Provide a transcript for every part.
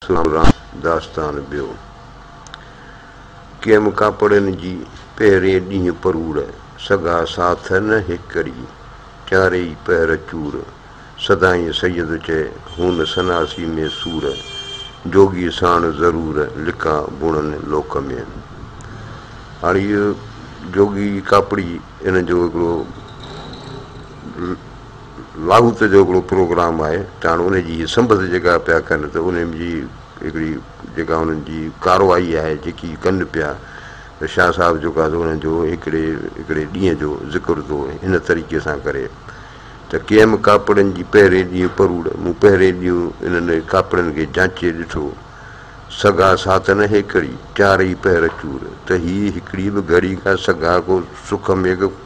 سلام رات داستان ٻيو ڪيم ڪاپڙين جي پهرين ڏينهن پروڙ سگها ساٿ نه هيڪري چارئي پهر چور سدائين سيد چئي هون سناسي ۾ سور جوڳي ساڻ ضرور لڪا بڻن لوڪ ۾. هاڻي اهو جوڳي جي ڪاپڙي ان جو هڪڙو لاهوت جو هڪڙو پروگرام آهي ڄڻ انهي جي هي سنبت جيڪا پيا ڪن ته انهي جي هڪڙي جيڪا انهن جي ڪارروائي آهي جيڪي ڪن پيا ته شاهه صاحب جيڪو آهي انهن جو هڪڙي هڪڙي ڏينهن جو ذڪر ٿو هن طريقي سان ڪري ته ڪي ايم ڪاپڙن جي پهرين ڏينهن پروڙ مون پهرين ڏينهن انهن ڪاپڙن کي جانچي ڏٺو سگها سات نه هيڪڙي چار ئي پهر چور ته هي هڪڙي به گهڙي کان سگها ڪو سک ميگهه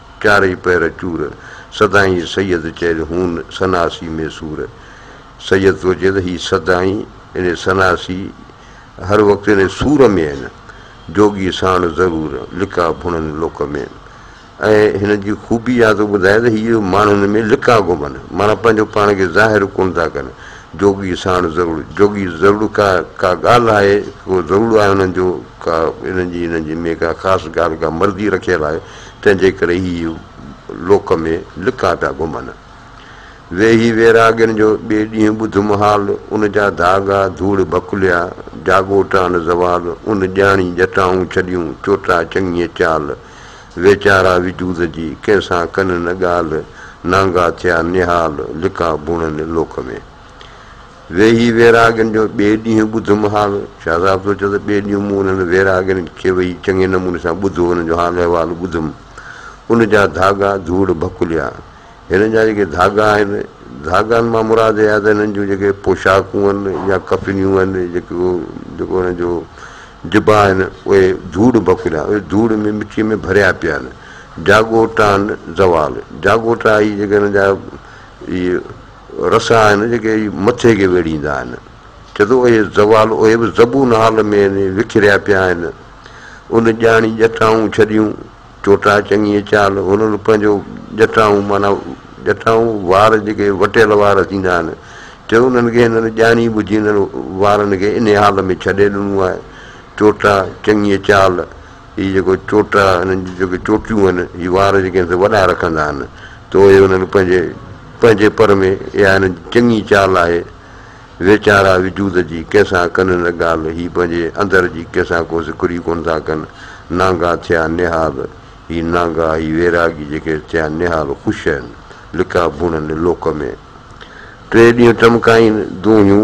چارئي پهر چور، سدائين سيد چئن هون سناسي ۾ سور. سيد ٿو چئي ته هي سدائين يعني سناسي هر وقت يعني سور ۾ آهن. جوڳي ساڻ ضرور، لڪا ڀڻن لوڪ ۾. ۽ هنن جي خوبي اها ٿو ٻڌائي ته هي ماڻهن ۾ لڪا گهمن، معنيٰ پنهنجو پاڻ کي ظاهر ڪونه ٿا ڪن. جوڳي ساڻ ضرور، جوڳي ضرور ڪا ڪا ڳالهه آهي، ڪو ضرور آهي انهن جو ڪا انهن جي انهن جي ۾ ڪا خاص ڳالهه ڪا مرضي رکيل آهي. تنهن جي ڪري هي لوڪ ۾ لڪا پيا گهمن. ويهي ويراڳين جو ٻئي ڏينهن ٻڌم حال، ان جا ڌاڳا ڌوڙ ڀڪليا، جاڳو ٽان زوال، ان ڄاڻي جٽائون ڇڏيون، چوٽا چڱيء چال، ويچارا وجود جي، ڪنهن سان ڪن نه ڳالهه، نانگا ٿيا نهال، لڪا ڀونئن لوڪ ۾. ويهي ويراڳين جو ٻئي ڏينهن ٻڌم حال. شاهه صاحب سوچيو ته ٻئي ڏينهن مون انهن ويراڳين کي ويهي چڱي نموني سان ٻڌو، انهن جو حال احوال ٻڌم. ان جا ڌاڳا ڌوڙ ڀڪليا. هنن جا جيڪي ڌاڳا آهن، ڌاڳن مان مراد اها ته هنن جون جيڪي پوشاڪون آهن يا ڪفنيون آهن، جيڪو جيڪو هنن جو جبا آهن، اهي ڌوڙ ڀڪليا، اهي ڌوڙ ۾ مٽيء ۾ ڀريا پيا آهن. جاڳوٽا آهن زوال. جاڳوٽا هي جيڪي هنن جا اهي. رس آهن جيڪي مٿي کي ويڙهيندا آهن. چئي ٿو اي زوال اهي به زبون حال ۾ وکريا پيا آهن. ان ڄاڻي ڄٺائون ڇڏيون، چوٽا چڱيء چال، هنن پنهنجو ڄٺائون معنيٰ ڄٺائون وار جيڪي وٽيل وار ٿيندا آهن، چئي انهن کي هنن ڄاڻي ٻجهي انهن وارن کي انهي حال ۾ ڇڏي ڏنو آهي، چوٽا چڱيء چال. هي جيڪو چوٽا، هنن جون جيڪي چوٽيون آهن، هي وار جيڪي آهن سي وڏا رکندا آهن ته اهي هنن پنهنجي پنهنجي پر ۾، اها هنن جي چڱي چال آهي، ويچارا وجود جي ڪنهن سان ڪن نه ڳالهه، هي پنهنجي اندر جي ڪنهن سان ڪو سڪري ڪونه ٿا ڪن، نانگا ٿيا نهال، هي نانگا، هي ويراڳي جيڪي ٿيا نهال خوش آهن، لڪا ڀونن لوڪ ۾. ٽي ڏينهن ٽمڪائين دونهيون.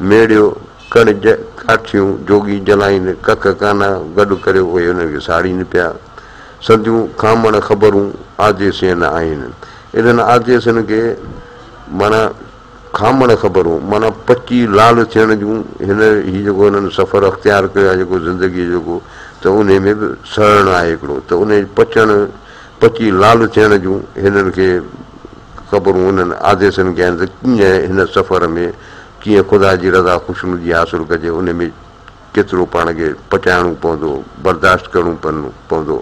ميڙيو، ڪڙج، ڪاٺيون، جوڳي جلائين، ڪک ڪانا، گڏ ڪريو اهي ان کي ساڙين پيا. سنديون کامڻ خبرون آديسين آهن. انهن آديسين کي معنيٰ کامڻ خبرون معنيٰ پچي لال ٿيڻ جون هن هي جيڪو هنن سفر اختيار ڪيو آهي جيڪو زندگيء جو جيڪو ته انهي ۾ به سڙڻ آهي هڪڙو ته انهي پچڻ پچي لال ٿيڻ جون هنن کي خبرون انهن آديسين کي آهن ته ڪيئن هن سفر ۾ ڪيئن خدا جي رضا خوشنودي حاصل ڪجي ان ۾ ڪيترو پاڻ کي پچائڻو پوندو، برداشت ڪرڻو پوندو.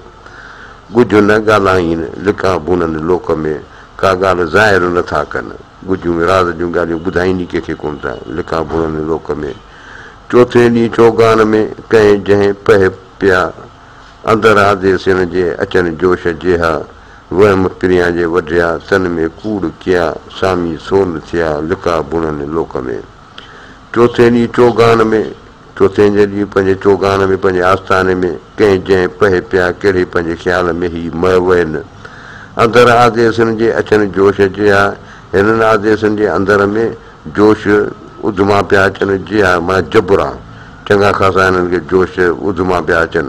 ڳجهه نه ڳالهائين، لڪان ڀونن لوڪ ۾ ڪا ڳالهه ظاهر نه ٿا ڪن. ڳجهون راز جون ڳالهيون ٻڌائين ئي ڪنهن کي ڪونه ٿا، لڪان ڀونن لوڪ ۾. چوٿين ڏينهن چوگان ۾ ڪنهن جنهن پهه پيا، اندر آديسين جي اچن جوش جيها، وهم پريان جي وڍيا، تن ۾ ڪوڙ ڪيا، سامي سول ٿيا، لڪا بڻن لوڪ ۾. چوٿين ڏينهن چوگان ۾، چوٿين جي ڏينهن پنهنجي چوگان ۾، پنهنجي آستاني ۾، ڪنهن جنهن پهي پيا، ڪهڙي پنهنجي خيال ۾ هي مئه وين. اندر آديسن جي اچن جوش جيها، هنن آديسن جي اندر ۾ جوش اڌما پيا اچن جيها، معنيٰ جبران چڱا خاصا هنن کي جوش اڌما پيا اچن.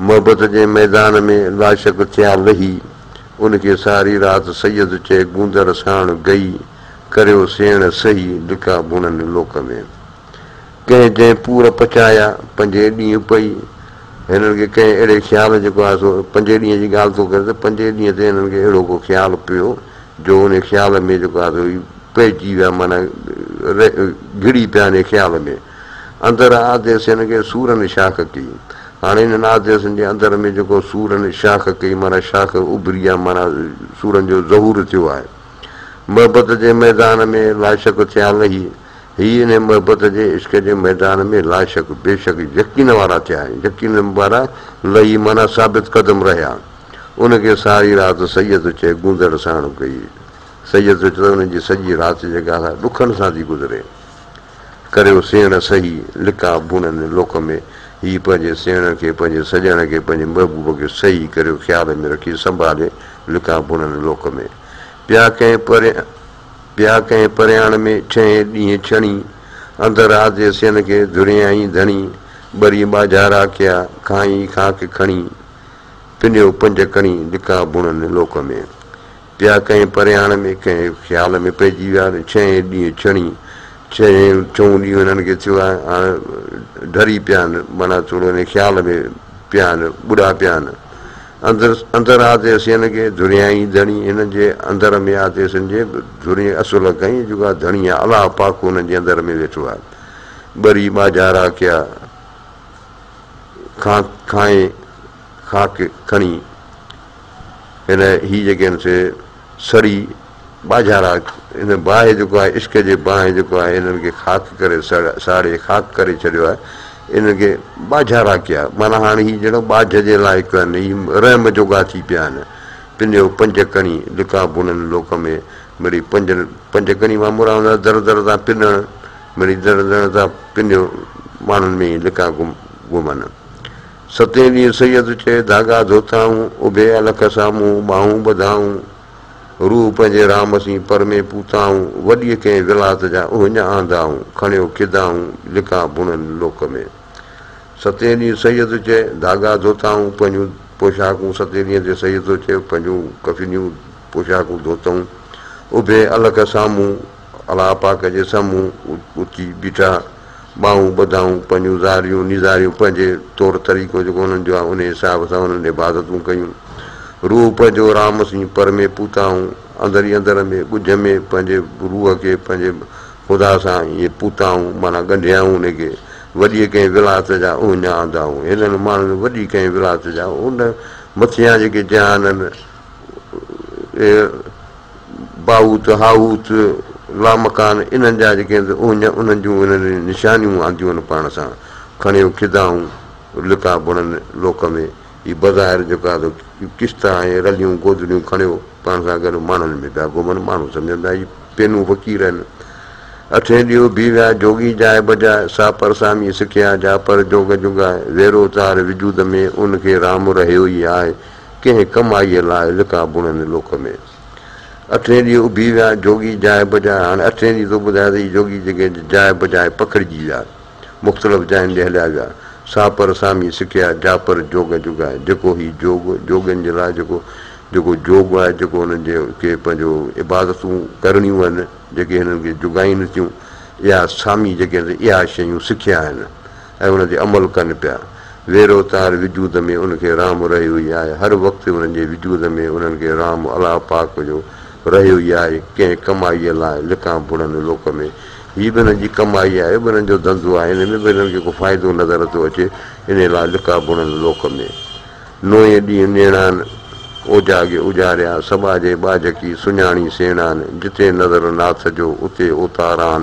محبت جي ميدان ۾ لاشڪ ٿيا لهي، ان کي ساري رات سيد چئي گوندر ساڻ گئي، ڪريو سيڻ سهي، لڪا ڀونن لوڪ ۾. ڪنهن جنهن پور پچايا، پنجين ڏينهن پئي، هنن کي ڪنهن اهڙي خيال جيڪو آء سو پنجين ڏينهن جي ڳالهه ٿو ڪرين ته پنجين ڏينهن تي هنن کي اهڙو ڪو خيال پيو، جو انهي خيال ۾ جيڪو آء سو پئجي ويا معنيٰ گهڙي پيا انهي خيال ۾. اندر آديس هن کي سورن شاخ ڪئي. هاڻي هنن آديسن جي اندر ۾ جيڪو سورن شاخ ڪئي معنيٰ شاخ اڀري يا معنيٰ سورن جو ظهور ٿيو آهي. محبت جي ميدان ۾ لاشڪ ٿيا لهي. هي انهي محبت جي عشق جي ميدان ۾ لاشڪ، بيشڪ يقين وارا ٿيا ۽ يقين وارا لهي معنيٰ ثابت قدم رهيا. ان کي ساري رات سيد چئي گوندڙ ساڻ ڪئي. سيد چئي ته ان جي سڄي رات جيڪا سا ڏکن سان ٿي گذري. ڪريو سيڻ سهي لقاء بڻن لوڪ ۾، هي پنهنجي سيڻ کي، پنهنجي سڄڻ کي، پنهنجي محبوب کي سهي ڪريو خيال ۾ رکي سنڀالي لقاء بڻن لوڪ ۾. پيا ڪنهن پريان پيا ڪنهن پريان ۾، ڇهين ڏينهن ڇڻي، اندر آڌي سين کي، ڌريائين ڌڻي، ٻري ٻاجهارا ڪيا، کانئن خاڪ کڻي، پنيو پنج ڪڻي لقاء بڻن لوڪ ۾. پيا ڪنهن پرياڻ ۾ ڪنهن خيال ۾ پئجي ويا ته ڇهين ڏينهن ڇڻي ڇهين ڇهون ڏينهن هنن کي ٿيو آهي هاڻ ڍري پيا آهن معنيٰ ٿورو انهي خيال ۾ پيا آهن ٻڏا پيا آهن اندر اندر آتي سين کي ڌريائين ڌڻي هنن جي اندر ۾ آتي سين جي ڌري اصل کائين جيڪا ڌڻي آهي الله پاڪ هنن جي اندر ۾ ويٺو آهي ٻري ٻاجهارا ڪيا کان کائين کاڪ کڻي هن هي جيڪي آهن سي سڙي ٻاجهارا هن باهه جيڪو آهي عشق جي باهه جيڪو آهي هنن کي خاڪ ڪري ساڙي خاڪ ڪري ڇڏيو آهي هنن کي ٻاجهارا ڪيا معنيٰ هاڻي هي جهڙو ٻاجهه جي لائق آهن هي رحم جوڳا ٿي پيا آهن پنهنجو پنج ڪڻي لڪا بنن لوڪ ۾ مڙي پنج پنج ڪڻي مان مراد آهي در در تان پنڻ مڙي در در تان پنهنجو ماڻهن ۾ لڪا گم گمن ستين ڏينهن سيد چئي ڌاڳا ڌوتائون، اڀي الک سامهون ٻانهون ٻڌائون، روح پنهنجي رام سين پر ۾ پوتائون، وڏيء ڪنهن ولات جا اهڃ آندائون، کڻيو کدائون لڪان بڻن لوڪ ۾. ستين ڏينهن سيد چئي ڌاڳا ڌوتائون، پنهنجون پوشاڪون ستين ڏينهن تي سيد ٿو چئي پنهنجون ڪفنيون پوشاڪون ڌوتائون، اڀي الک سامهون الله پاڪ جي سمهون اچي بيٺا، ٻانهون ٻڌائون، پنهنجون زاريون نيزاريون پنهنجي طور طريقو جيڪو انهن جو آهي انهيء حساب سان انهن عبادتون ڪيون. روح پنهنجو رام سين پر ۾ پوتائون، اندر ئي اندر ۾ ڳجهه ۾ پنهنجي روح کي پنهنجي خدا سان ائين پوتائون معنيٰ ڳنڍيائون ان کي، وڏيء ڪنهن ولايت جا اهڃا آندائون. هنن ماڻهن وڏي ڪنهن ولايت جا ان مٿيان جيڪي جهانن، باهوت، هاهوت، لامڪان انهن جا جيڪي هنڌ اهڃ انهن جون هنن نشانيون آنديون هن پاڻ سان کڻيو کدائون لڪا بڻن لوڪ ۾، هي بظاهر جيڪو آهي سو ڪشت آهي رليون گودڙيون کڻيو پاڻ سان گڏ ماڻهن ۾ پيا گهمن ماڻهو سمجهن ٿا هي پينون فقير آهن اٺين ڏيئو بي ويا جوڳي جاء بجاء سا پر سامي سکيا جا پر جوڳ جوڳائي ويرو تار وجود ۾ ان کي رام رهيو ئي آهي ڪنهن ڪمائيء لاء لڪا بڻن لوڪ ۾. اٺين ڏينهن اڀي ويا جوڳي جاء بجاء هاڻي اٺين ڏينهن تون ٻڌاء ته هي جوڳي جيڪي جاء بجاء پکڙجي ويا مختلف جاين ڏي هليا ويا ساپر سامي سکيا جاپر جوڳ جوڳاء جيڪو هي جوڳ جوڳين جي لاء جيڪو جيڪو جوڳ آهي جيڪو هنن جي کي پنهنجو عبادتون ڪرڻيون آهن جيڪي هنن کي جوڳائين ٿيون اها سامي جيڪي اها شيون سکيا آهن. ۽ ان تي عمل ڪن پيا. ويرو ته هر وجود ۾ ان کي رحم رهيو ئي آهي، هر وقت انهن جي وجود ۾ انهن کي رحم الله پاڪ جو رهيو ئي آهي، ڪنهن ڪمائيء لاء لڪان ڀڙن لوڪ ۾. هي به انهن جي ڪمائي آهي، به انهن جو ڌنڌو آهي، ان ۾ به انهن کي ڪو فائدو نظر نٿو اچي، انهيء لاء لڪا ڀڙن لوڪ ۾. نوئين ڏينهن نيڻان اوجاڳي اجهاريا، سٻاجهي ٻاجهڪي سڃاڻي سيڻان، جتي نظر ناٿ جو اتي اوتاران.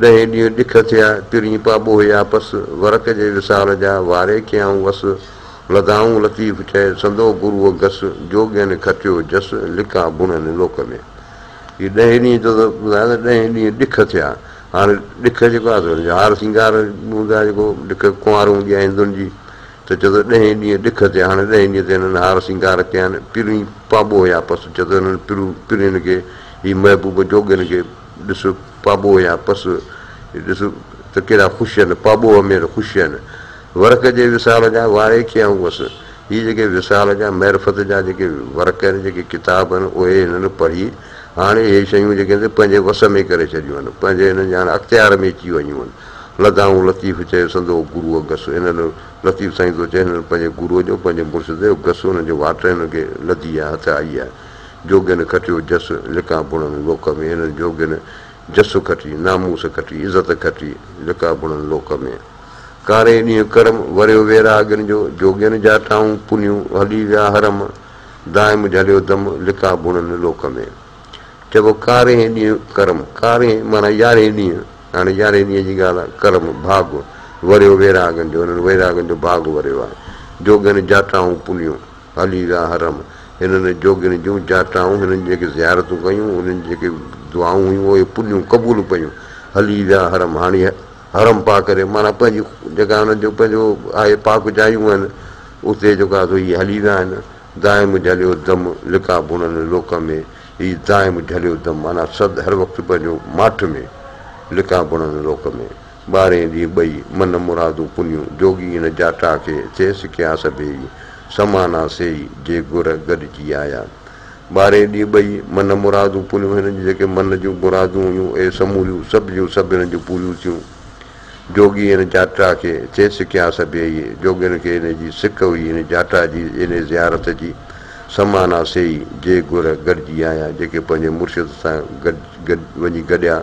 ڏهين ڏينهن ڏک ٿيا، ترين پاٻو هيا پس، ورق جي وصال جا، واري ڪيائون وس، لڌائون لطيف چئي، سندو گروء گس، جوڳين کٽيو جس، لڪا بڻن لوڪ ۾. هي ڏهين ڏينهن جو ته ٻڌايو ته ڏهين ڏينهن ڏک ٿيا، هاڻي ڏک جيڪو آهي سو هن جو هار سينگار هوندو آهي جيڪو ڏک ڪنوار هوندي آهي هندن جي ته چئي ٿو ڏهين ڏينهن ڏک ٿيا، هاڻي ڏهين ڏينهن تي هنن هار سينگار ڪيائين، ترين پاٻو هيا پس، چئي ٿو هنن پرين کي هي محبوب جوڳين کي. ڏس پاٻوهه يا پس، ڏس ته ڪهڙا خوش آهن، پاٻوهه ۾ ته خوش آهن. ورق جي وصال جا واري ڪيائون وس، هي جيڪي وصال جا معرفت جا جيڪي ورق آهن، جيڪي ڪتاب آهن، اهي هنن پڙهي، هاڻي اهي شيون جيڪي هن پنهنجي وس ۾ ڪري ڇڏيون آهن، پنهنجي هنن جي هاڻي اختيار ۾ اچي ويون آهن. لدائون لطيف چيو سندو گروء گس، هنن لطيف سائين ٿو چئي، هنن پنهنجي گروء جو، پنهنجي مرشد جو گس، هنن جو واٽ هنن کي لڌي آهي، هٿ آئي آهي. جوڳين کٽيو جس، لڪا بڻن لوڪ ۾، هنن جوڳين جس کٽي، ناموس کٽي، عزت کٽي، لڪا بڻن لوڪ ۾. ڪاري ڏينهن ڪرم، وريو ويراڳين جو، جوڳين جا ٽائون پنيون، هلي ويا حرم، دائم جهليو دم، لڪا بڻن لوڪ ۾. چئبو ڪارينهن ڏينهن ڪرم، ڪارينهن معنيٰ يارهين ڏينهن، هاڻي يارهين ڏينهن جي ڳالهه آهي، ڪرم ڀاڳ، وريو ويراڳين جو، هنن ويراڳين جو ڀاڳ وريو آهي، جوڳين جا ٽائون پنيون. علي جا حرم، هنن جوڳين جون جاٽائون، هنن جي جيڪي زيارتون ڪيون، هنن جي جيڪي دعائون هيون، اهي پليون قبول ڪيون. علي جا حرم، هاڻي حرم پاڪ ري معنيٰ پنهنجي جيڪا هنن جو پنهنجو آهي پاڪ جايون آهن، اتي جيڪا سو هي علي جا آهن. دائم جهليو دم لقاء بڻن لوڪ ۾، هي دائم جهليو دم معنيٰ سد هر وقت پنهنجو ماٺ ۾، لقاء بڻن لوڪ ۾. ٻارهين ڏينهن ٻئي، من مرادون پنيون، جوڳي ان جاٽا کي، ٿئيس ڪيا سڀيئي، سمانا سيئي، جي گر گڏجي آيا. ٻارهين ڏينهن ٻئي، من مرادون پنيون، هنن جون جيڪي من جون مرادون هيون، اهي سموريون، سڀ جون سڀ هنن جون پوريون ٿيون. جوڳي ان جاٽا کي، ٿئيس ڪيا سڀيئي، جوڳين کي انهي جي سڪ هئي، انهي جاٽا جي، انهي زيارت جي، سمانا سيئي، جي گر گڏجي آيا، جيڪي پنهنجي مرشد سان گڏ گڏ وڃي گڏيا.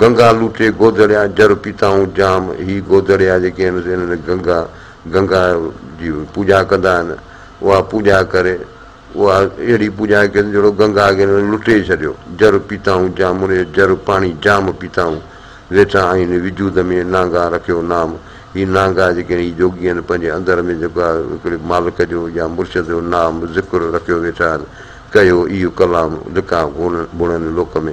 گنگا لوٽي گودڙيا جر پيتائون جام هي گودڙيا جيڪي آهن سي انهن گنگا گنگا جي پوڄا ڪندا آهن اها پوڄا ڪري اها اهڙي پوڄا ڪئي اٿن جهڙو گنگا کي انهن لٽي ڇڏيو جر پيتائون جام ان جو جر پاڻي جام پيتائون ويٺا آهين وجود ۾ نانگا رکيو نام هي نانگا جيڪي آهن هي جوڳي آهن پنهنجي اندر ۾ جيڪو آهي هڪڙي مالڪ جو يا مرشد جو نام ذڪر رکيو ويٺا آهن ڪهيو ايو ڪلام لکان گهڻن لوڪ ۾.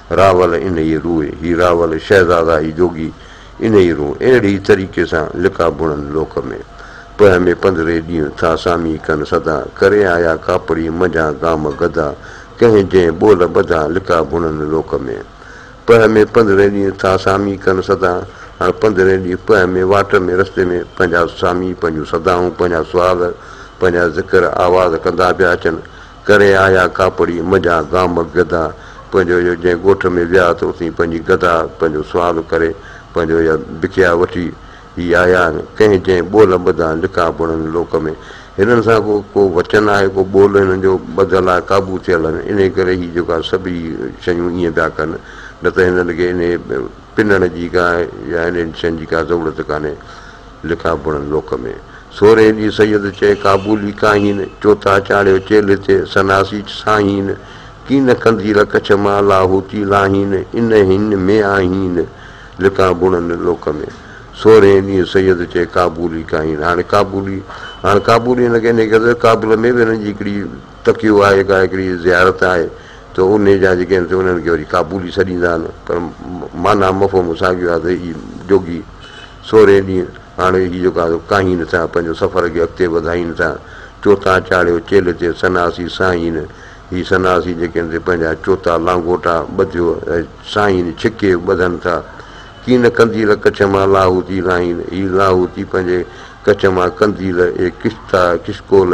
راول انهيء روء، هي راول شهزادا هي جوڳي انهيء روء، اهڙي طريقي سان لقاء بڻن لوڪ ۾، پهه ۾ پندري ڏينهن ٿا سامي ڪن سدا، ڪري آيا ڪاپڙي منجهان گام گدا، ڪنهن جنهن ٻول ٻڌا لقاء بڻن لوڪ ۾. پهه ۾ پندري ڏينهن ٿا سامي ڪن سدا، هاڻ پندري ڏينهن پهه ۾ واٽ ۾ رستي ۾ پنهنجا سامي پنهنجون سدائون پنهنجا سوال پنهنجا ذڪر آواز ڪندا پيا اچن، ڪري آيا ڪاپڙي منجها گام گدا پنهنجو يا جنهن ڳوٺ ۾ ويا ته اتي پنهنجي گدا پنهنجو سوال ڪري پنهنجو يا بکيا وٺي هي آيا آهن ڪنهن جنهن ٻول ٻڌا لکا بڻن لوڪ ۾ هنن سان ڪو ڪو وچن آهي ڪو ٻول هنن جو ٻڌل آهي قابو ٿيل آهن انهي ڪري هي جيڪا سڀئي شيون ائين پيا ڪن نه ته هنن کي انهي پنڻ جي ڪا يا انهن شين جي ڪا ضرورت ڪانهي لکا بڻن لوڪ ۾، سورهيه جي سيد چئي ڪابولي ڪاهين، چوٿا چاڙهيو چيلهه تي سناسيچ ساهين، ڪين قنديل ڪڇ مان لاهوتي لاهين، ان هن ۾ آهين لکا بڻن لوڪ ۾، سورهيه ڏينهن سيد چئي ڪابولي ڪاهين، هاڻي ڪابولي هاڻي ڪابولي هن کي انهيء ڪري ڪابل ۾ به هن جي هڪڙي تڪيو آهي ڪا هڪڙي زيارت آهي ته انهي جا جيڪي آهن سي انهن کي وري ڪابولي سڏيندا آهن پر معنيٰ مفهوم ساڳيو آهي ته هي جوڳي سورهين ڏينهن هاڻي هي جيڪو آهي ڪاهين سان پنهنجو سفر کي اڳتي وڌائين ٿا چوتا چاڙهيو چيلهه تي سناسي سائين هي سناسي جيڪي آهن سي پنهنجا چوتا لانگوٽا ٻڌيو سائين ڇڪي ٻڌن ٿا ڪين قنديل ڪڇ مان لاهوتي لاهين هي لاهوتي پنهنجي ڪڇ مان قنديل اهي ڪشتا ڪشڪول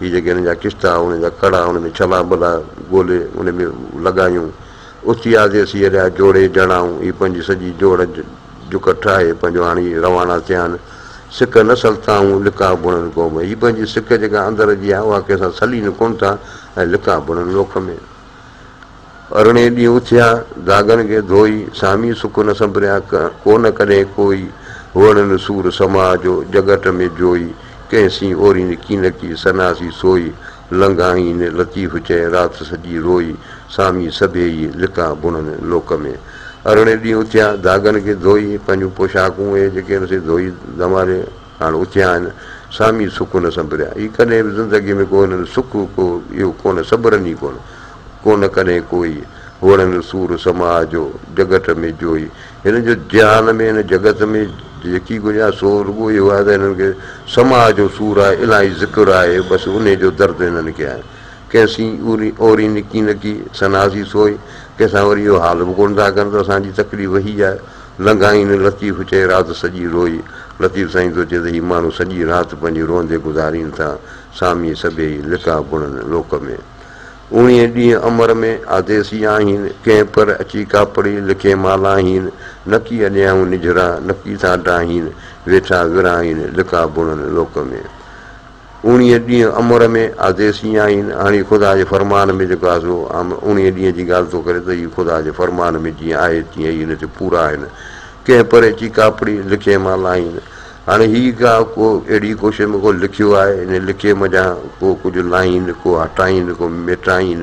هي جيڪي هن جا ڪشتا، هن جا ڪڙا، هن ۾ ڇلا ٻلا ڳولي ان ۾ لڳايون. اٿي آزي اسين اهڙيا جوڙي جهڙائون. هي پنهنجي سڄي جوڙ جڪ ٺاهي پنهنجو آڻي روانا ٿيا آهن. سڪ نه سلتائون لقاء ڀڻن قوم ۾. هي پنهنجي سڪ جيڪا اندر جي آهي اها ڪنهن سان سلين ڪونه ٿا ۽ لقاء ڀڻن لوڪ ۾. ارڙهين ڏينهن اٿيا، داغن کي ڌوئي، سامي سڪ نه سنبريا، ڪو نه ڪڏهين ڪوئي، هئڙ نه سور سماء جو، جڳٽ ۾ جوئي، ڪنهن سين اوري نه ڪينڪي، سنا سين سوئي، لنگهائين نه لطيف چئي، رات سڄي روئي، سامي سڀيئي، لڪان بڻن لوڪ ۾. ارڙهين ڏينهن اٿيا، داغن کي ڌوئي، پنهنجون پوشاڪون اهي جيڪي هن سين ڌوئي، دماري، هاڻ اٿيا آهن، سامي سڪون سنبريا. هي ڪڏهن به زندگيء ۾ ڪو هنن سک ڪو اهو ڪونه سبرن ئي ڪونه. ڪونه ڪڏهن ڪوئي، هوڙن سور سماء جو، جڳٽ ۾ جوئي. هنن جو جهان ۾ هن جڳت ۾ جيڪي ڪجهه آهي سو رڳو اهو آهي ته هنن کي سماء جو سور آهي، الاهي ذڪر آهي، بس انهيء جو درد هنن کي آهي. ڪنهن سين اورين نڪي نڪي سناسي سوئي، ڪنهن سان وري اهو حال به ڪونه ٿا ڪن ته اسان جي تڪليف هي آهي. لنگهائين لطيف چئي رات سڄي روئي. لطيف سائين ٿو چئي ته هي ماڻهو سڄي رات پنهنجي روئندي گذارين ٿا. سامي سڀيئي لڪا بڻن لوڪ ۾. اوڻيهين ڏينهن امر ۾ آديسي آهين. ڪنهن پر اچي ڪاپڙي لکي مالاهين. نڪي اڏيائون نجهرا نڪي ٿا ڊاهين. ويٺا ورهائين لڪا بڻن لوڪ ۾. انهيء ڏينهن امر ۾ آديس ايئن آهين، هاڻي خدا جي فرمان ۾ جيڪو آديس هو، عام انهيء ڏينهن جي ڳالهه ٿو ڪري ته اهي خدا جي فرمان ۾ جيئن آهي تيئن ئي ان تي پورا آهن. ڪنهن پري چي ڪاپڙي لکيء مان لاهين. هاڻي هيء ڪا ڪو اهڙي ڪوشش ۾ ڪو لکيو آهي، ان لکيء منجهان ڪو ڪجهه لاهين، ڪو هٽائين، ڪو ميٽائين.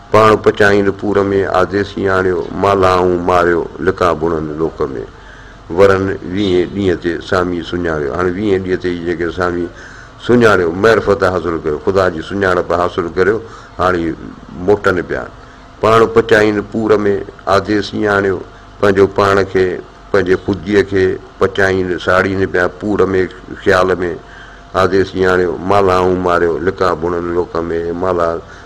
پاڻ پچائين پور ۾، آدي سياڻيو، مالهائون ماريو، لڪان بڻن لوڪ ۾. ورن ويهين ڏينهن تي سامي سڃاڻيو، هاڻي ويهين ڏينهن تي ئي جيڪي سامي سڃاڻيو، معرفت حاصل ڪيو، خدا جي سڃاڻپ حاصل ڪريو، هاڻي موٽن پيا. پاڻ پچائين پور ۾، آدي سياڻيو، پنهنجو پاڻ کي، پنهنجي خوديء کي، پچائين، ساڙين پيا، پور ۾، خيال ۾، آدي سياڻيو، مالهائون ماريو، لڪان بڻن لوڪ ۾، مالها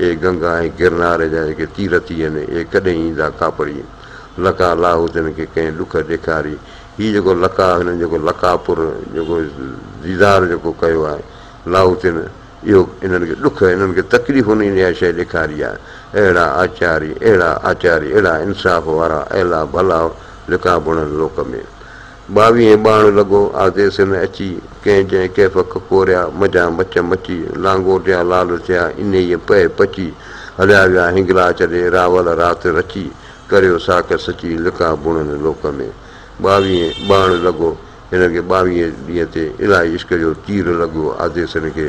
اي گنگا ۽ گرنار جا جيڪي تيرٿ هي آهن، اي ڪڏهن ايندا ڪاپڙي؟ لقاء لاهو تن کي ڪنهن ڏک ڏيکاري؟ هي جيڪو لقاء هنن جيڪو لقاء پور جيڪو ديدار جيڪو ڪيو آهي، لاهو تن اهو انهن کي ڏک، انهن کي تڪليف انهيء اها شيء ڏيکاري آهي. اهڙا آچاري، اهڙا آچاري، اهڙا انصاف وارا، اهلا ڀلا لقاء بڻن لوڪ ۾. ٻاويهين ٻاڻ لڳو آزي سن اچي، ڪنهن جنهن ڪيف ڪک ڪوريا، مجان مچ مچي، لانگوٽيا لال ٿيا، انهيء پهه پچي، هليا ويا هنگلاج ڏي، راول رات رچي، ڪريو ساک سچي، لڪا بڻن لوڪ ۾. ٻاويهين ٻاڻ لڳو هن کي ٻاويهين ڏينهن تي الائي عشق جو تير لڳو آزي سن کي،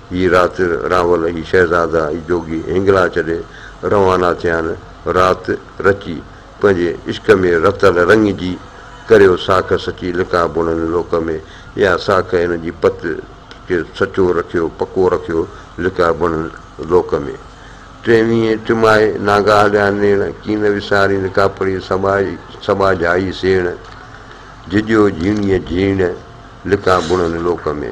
هي رات راول، هي شهزادا، هي جوڳي هنگلا چڏي روانا ٿيا آهن. رات رچي پنهنجي عشق ۾ رتل رڱ جي ڪريو ساک سچي لڪا بڻن لوڪ ۾، اها ساک هن جي پت کي سچو رکيو پڪو رکيو لڪا بڻن لوڪ ۾. ٽينهين ٽمائي نانگا هليا نيڻ، ڪي نه وسارين لڪا پڙي سٻاجهي سٻاجهائي سيڻ، جهڄيو جهيڻيء جهيڻ لڪا بڻن لوڪ ۾.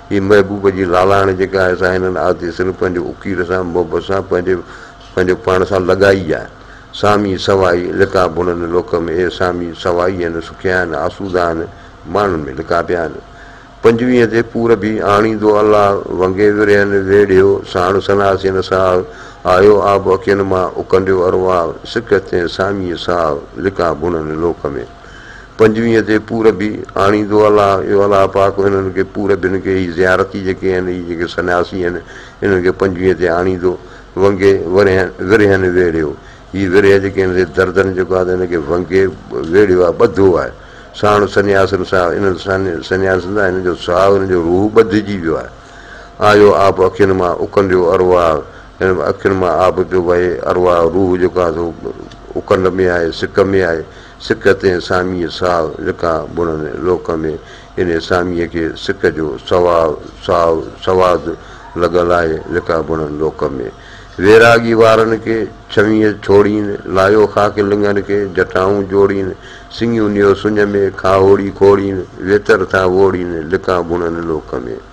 هي محبوب جي لالاڻي جيڪا آهي سا هنن آتي صرف پنهنجي اڪير سان محبت سان پنهنجي پنهنجي پاڻ سان لڳائي آهي. سامي سوائي لڪا بڻن لوڪ ۾ اهي سامي سوائي آهن سکيا آهن آسودا آهن ماڻهن ۾ لڪا پيا آهن پنجويهه تي پورڀي آڻيندو الله ونگي ورهين ويڙهيو ساڻ سناسين ساهه آيو آب اکين مان اڪنڊيو ارواح سک تي سامي ساهه لڪا بڻن لوڪ ۾. پنجويهه تي پوربي آڻيندو الله اي الله پاڪ هنن کي پوربين کي هي زيارتي جيڪي آهن هي جيڪي سنياسي آهن انهن کي پنجويهه تي آڻيندو ونگي ورهين ورهين ويڙهيو هي ورهيه جيڪي آهن سي دردن جيڪو آهي ته هن کي ونگي ويڙهيو آهي ٻڌو آهي ساڻ سنياسن ساهه انهن سان سنياسن سان هنن جو ساهه هنن جو روح ٻڌجي ويو آهي آيو آب اکين مان اڪنڊيو ارواح هن اکين مان آب پيو وهي ارواح روح جيڪو آهي سو اڪنڊ ۾ آهي سڪ ۾ آهي سڪ تي ساميء ساو لڪا بڻن لوڪ ۾ ان ساميء کي سڪ جو سواء ساو سواد لڳل آهي لڪا بڻن لوڪ ۾ ويراڳي وارن کي ڇوينء ڇوڙين لايو خاڪ لڱن کي جٽائون جوڙين سڱيون نيو سڃ ۾ کاهوڙي کوڙين ويتر ٿا ووڙين لڪا بڻن لوڪ ۾.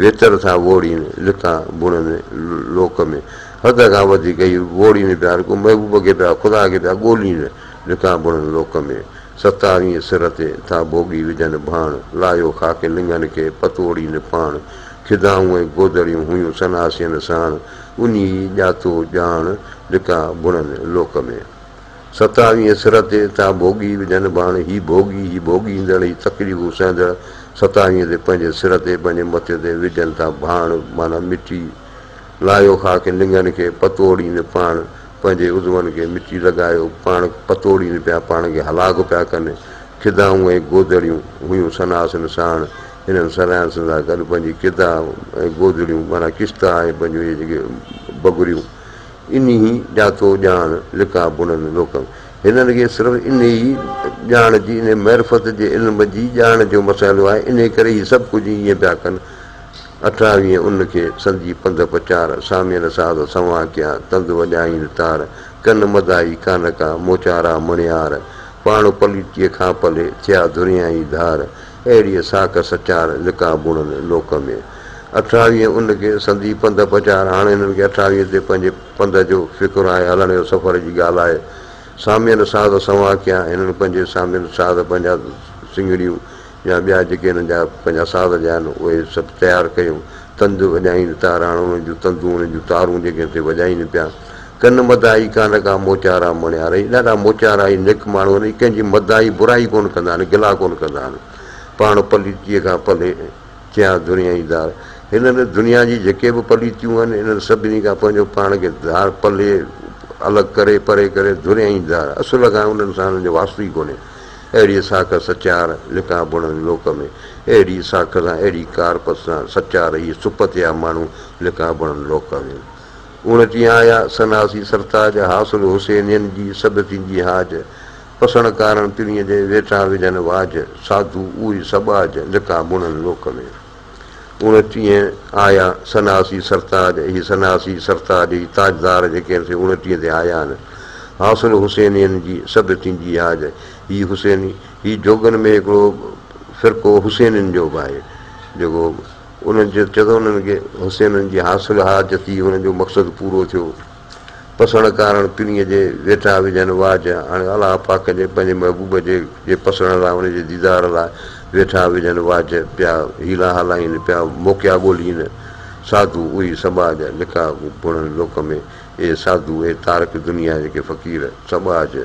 ويتر ٿا ووڙين، لتان بڻن لوڪ ۾، حد کان وڌيڪ هي ووڙين پيا، هرڪو محبوب کي پيا، خدا کي پيا ڳولين، لتان بڻن لوڪ ۾، ستارينء سر تي ٿا ڀوڳي وجهن ڀاڻ، لاهيو خاڪ لڱن کي، پتوڙين پاڻ، خدائون ۽ گودڙيون هيون سناسين ساڻ، انهي ئي ڄاتو ڄاڻ، لتان بڻن لوڪ ۾. ستاويهين سر تي ٿا ڀوڳي وجهن ڀاڻ هي ڀوڳي هي ڀوڳيندڙ هي تڪليفون سهندڙ ستاويهين تي پنهنجي سر تي پنهنجي مٿي تي وجهن ٿا ڀاڻ معنيٰ مٽي لاهيو خاڪ لڱن کي پتوڙين پاڻ پنهنجي عضون کي مٽي لڳايو پاڻ پتوڙين پيا پاڻ کي هلاڪ پيا ڪن کدائون ۽ گودڙيون هيون سناسن ساڻ هنن سريانسن سان گڏ پنهنجي کدا ۽ گودڙيون معنيٰ ڪشتا ۽ پنهنجون اهي جيڪي بگريون انهي جا تو ڄاڻ لکان بڻن نوڪم. هنن کي صرف انهي ڄاڻ جي، انهي معرفت جي علم جي ڄاڻ جو مسئلو آهي، انهي ڪري هي سڀ ڪجهه ائين پيا ڪن. اٺاويهين ان کي سندي پنڌ پچار، سامين ساز سنوان ڪيان، تند وڄائين تار، ڪن مدائي ڪانه ڪا، موچارا مڻيار، پاڻ پليتيء کان پلي، ٿيا ڌريائين ڌار، اهڙيء ساک سچار لقاء بڻن لوڪ ۾. اٺاويهين ان کي سندي پنڌ پچار هاڻ هنن کي اٺاويهين تي پنهنجي پنڌ جو فڪر آهي هلڻ جو سفر جي ڳالهه آهي سامين ساز سنوان ڪيا هنن پنهنجي سامين ساز پنهنجا سنگڙيون يا ٻيا جيڪي هنن جا پنهنجا ساز جا آهن اهي سڀ تيار ڪيون تند وڄائين تاراڻ انهن جون تندون انهن جون تارون جيڪي هتي وڄائين پيا ڪن مداحي ڪانه ڪا موچارا مڻيا رهي ڏاڍا موچارا ۽ نيڪ ماڻهو آهن اهي ڪنهن جي مداحي برائي ڪونه ڪندا آهن گلا ڪونه ڪندا آهن پاڻ پليتيء کان پلي چيا دنيائي ڌار هنن دنيا جي جيڪي به پليتيون آهن انهن سڀني کان پنهنجو پاڻ کي ڌار پلي الڳ ڪري پري ڪري دنيائي ڌار اصل کان انهن سان انهن جو واسطو ئي ڪونهي اهڙيء ساک سچار لکان بڻن لوڪ ۾، اهڙيء ساک سان اهڙي ڪارپت سان سچار هي سپتيا ماڻهو لکان بڻن لوڪ ۾. اوڻچي آيا سناسي سرتاج، حاصل حسينين جي سڌ ٿيندي حاج، پسڻ ڪارڻ پرينء جي ويٺا وجهن واجهه، ساڌو اهي سٻاجهه لکان بڻن لوڪ ۾. اوڻٽيهه آيا سناسي سرتاج هي سناسي سرتاج هي تاجدار جيڪي هن سين اوڻٽيهه تي آيا آهن حاصل حسينين جي سڀ تنجي هاج هي حسيني هي جوڳن ۾ هڪڙو فرقو حسينين جو به آهي جيڪو انهن چيو ته انهن کي حسينين جي حاصل هاج ٿي انهن جو مقصد پورو ٿيو. پسڻ ڪارڻ پڻيء جي ويٺا وجهن واء جا، هاڻي الله پاڪ جي پنهنجي محبوب جي جي پسڻ لاء ان جي ديدار لاء ويٺا وجهن واء جا، پيا حيلا هلائين، پيا موقعا ڳولين، ساڌو اهي سٻاء جا جيڪا پڻهن لوڪ ۾، اهي ساڌو، اهي تارڪ دنيا جيڪي فقير، سٻاء جا.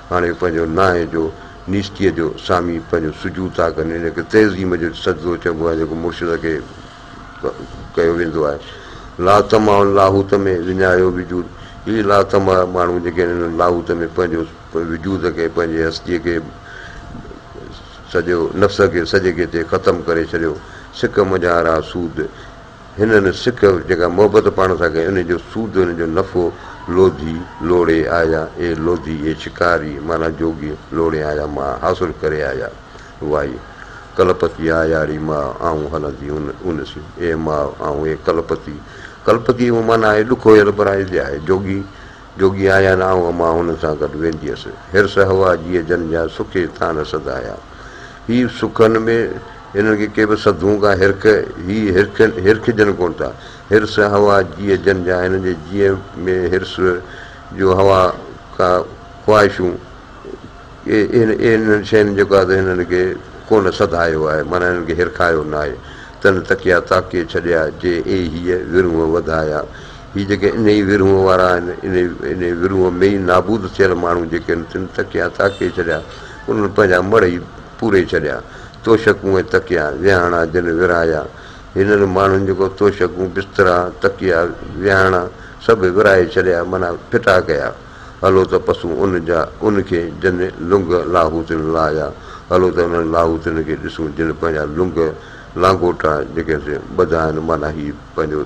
هاڻي پنهنجو نانء جو، نيستيء جو، سامي پنهنجو سجود ٿا ڪن. ان کي تعظيم جو سجدو چئبو آهي، جيڪو مرشد کي ڪيو ويندو آهي. لاطمع لاهوت ۾ وڃايو وجود، هي لاطمع ماڻهو جيڪي آهن انهن لاهوت ۾ پنهنجو وجود کي، پنهنجي هستيء کي سڄو نفس کي سڄي کي تي ختم ڪري ڇڏيو. سڪ منجهان راه سود. هنن سک جيڪا محبت پاڻ سان ڪئي، انهيء جو سود، انهيء جو نفعو، لوڌي، لوڙهي، آيا، اي لوڌي، اي شڪاري، معنيٰ جوڳي، لوڙهي آيا ماء، حاصل ڪري آيا، وائي، ڪلپتي آياري ماء، آئون هلندي ان ان سين، اي ماء، آئون، اي ڪلپتي، ڪلپتي معنيٰ آهي ڏک هويل، پر آهي، جي آهي، جوڳي، جوڳي آهيان آئون امان هن سان گڏ ويندي هيس. حرص هوا جيء جن جا سکي ٿان سڌايا. هي سکن ۾ هنن کي ڪي به سڌون ڪا هرک هي هرکين هرکجن ڪونه ٿا. حرص هوا جيء جن جا هنن جي جيء ۾ حرص جو هوا ڪا خواهشون ڪي اهن اهنن شين جو ڪا ته هنن کي ڪونه سڌايو آهي معنيٰ هنن کي هرکايو ناهي. تن تڪيا تاڪي ڇڏيا جي اي هيء ورونهه وڌايا. هي جيڪي انهيء ورهونء وارا آهن، انهيء ورهونء ۾ ئي نابود ٿيل ماڻهو جيڪي آهن، تن تڪيا تاڪي ڇڏيا، انهن پنهنجا مڙهه ئي پوري ڇڏيا. توشڪون ۽ تڪيا، ويهاڻا جن ورهايا، هنن ماڻهن جيڪو توشڪون، بسترا، تڪيا، ويهاڻا سڀ ورهائي ڇڏيا، معنيٰ ڦٽا ڪيا. هلو ته پسون ان جا، ان کي، جن لنگهه لاهوتين لاهيا، هلو ته انهن لاهوتين کي ڏسون، جن پنهنجا لنگهه، لانگوٽا، جيڪي آهن سي ٻڌا آهن، معنيٰ هي پنهنجو.